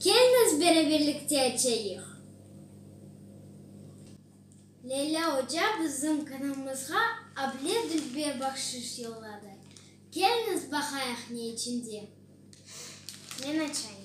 Kelniz beraberlikte açayıq. Leyla oca bizim kanalımızğa able dülber bahşış yolladı. Kelniz baqayıq ne içinde. Men açayım.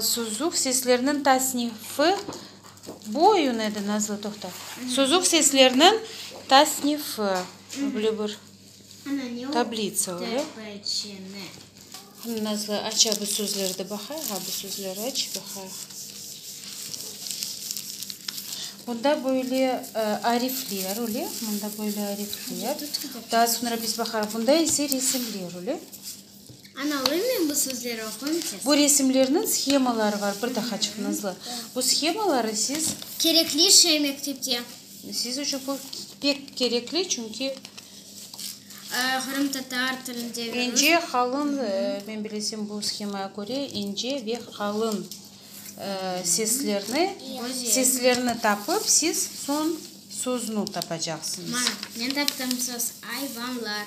Suzuv sesleriniñ tasnifi, bu oyun edi, Nazlı, toqta. Suzuv sesleriniñ tasnifi, böyle bir tablitsa olu. Nazlı, aç a bu sözlerdi baqayıq, a bu sözleri aç, baqayıq. Bunda böyle arifler öyle, bunda böyle arifler. Daa soñra biz baqarıq. Bunda ise resimler öyle. Analıymı bu sözleri oquyım tez. Bu resimlerniñ shemaları bar, bir daha çıqnızlı. Bu shemaları siz. Kerekli şey mektepte. Siz içün bu pek kerekli, çünki. Qırımtatar tilinde. İnce, qalın, men bilesem bu shemaya köre ince ve qalın seslerni, seslerni tapıp siz soñ sözünü tapacaqsıñız. Mana, men taptım söz, ayvanlar.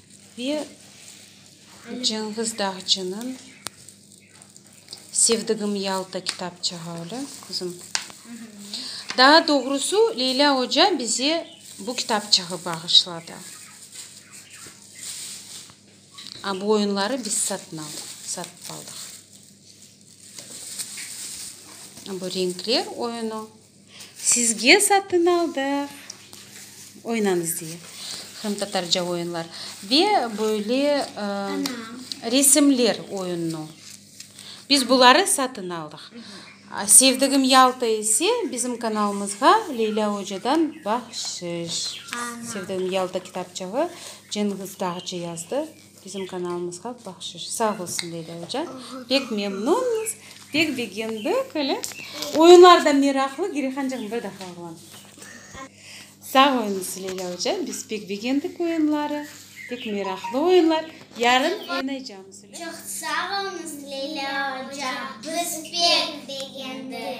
Ve Cenğiz Dağcınıñ Sevdigim Yalta kitapçığı öyle, qızım. Daa doğrusu, Leylâ oca bize bu kitapçığı bağışladı. A bu oyunları biz satın aldıq, satıp aldıq. Bu renkler oyunu. Sizge satın aldıq, oynañız diye. Qırımtatarca oyunlar ve böyle resimler oyunını. Biz buları satın aldıq. Sevdigim Yalta ise bizim kanalımızğa Leylâ ocadan bahşiş. Sevdigim Yalta kitapçığı Cenğiz Dağcı yazdı. Bizim kanalımızğa bahşış. Sağ olsun Leyla oca. Pek memnunmız. Pek begendik öyle. Oyunlar da meraqlı. Girehancığım bir defa oğlan. Sağ olunız Leyla oca. Biz pek begendik oyunları. Pek meraqlı oyunlar. Yarın oynaycamız öyle. Çoq sağ olunız Leyla oca. Biz pek begendik.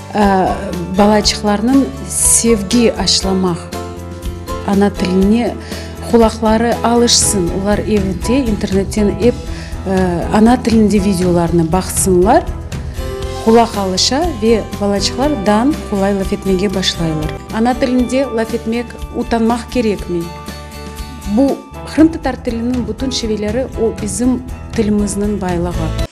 Balaçıqlarnıñ sevgi aşlamaq, ana tiline qulaqları alışsın, olar evde internetten ep ana tilinde videolarnı baqsınlar, qulaq alışa ve balaçıqlar dan qolay laf etmege başlaylar. Ana tilinde laf etmek utanmaq kerekmey. Bu, qırımtatar tiliniñ bütün şiveleri, o bizim tilimizniñ baylığı.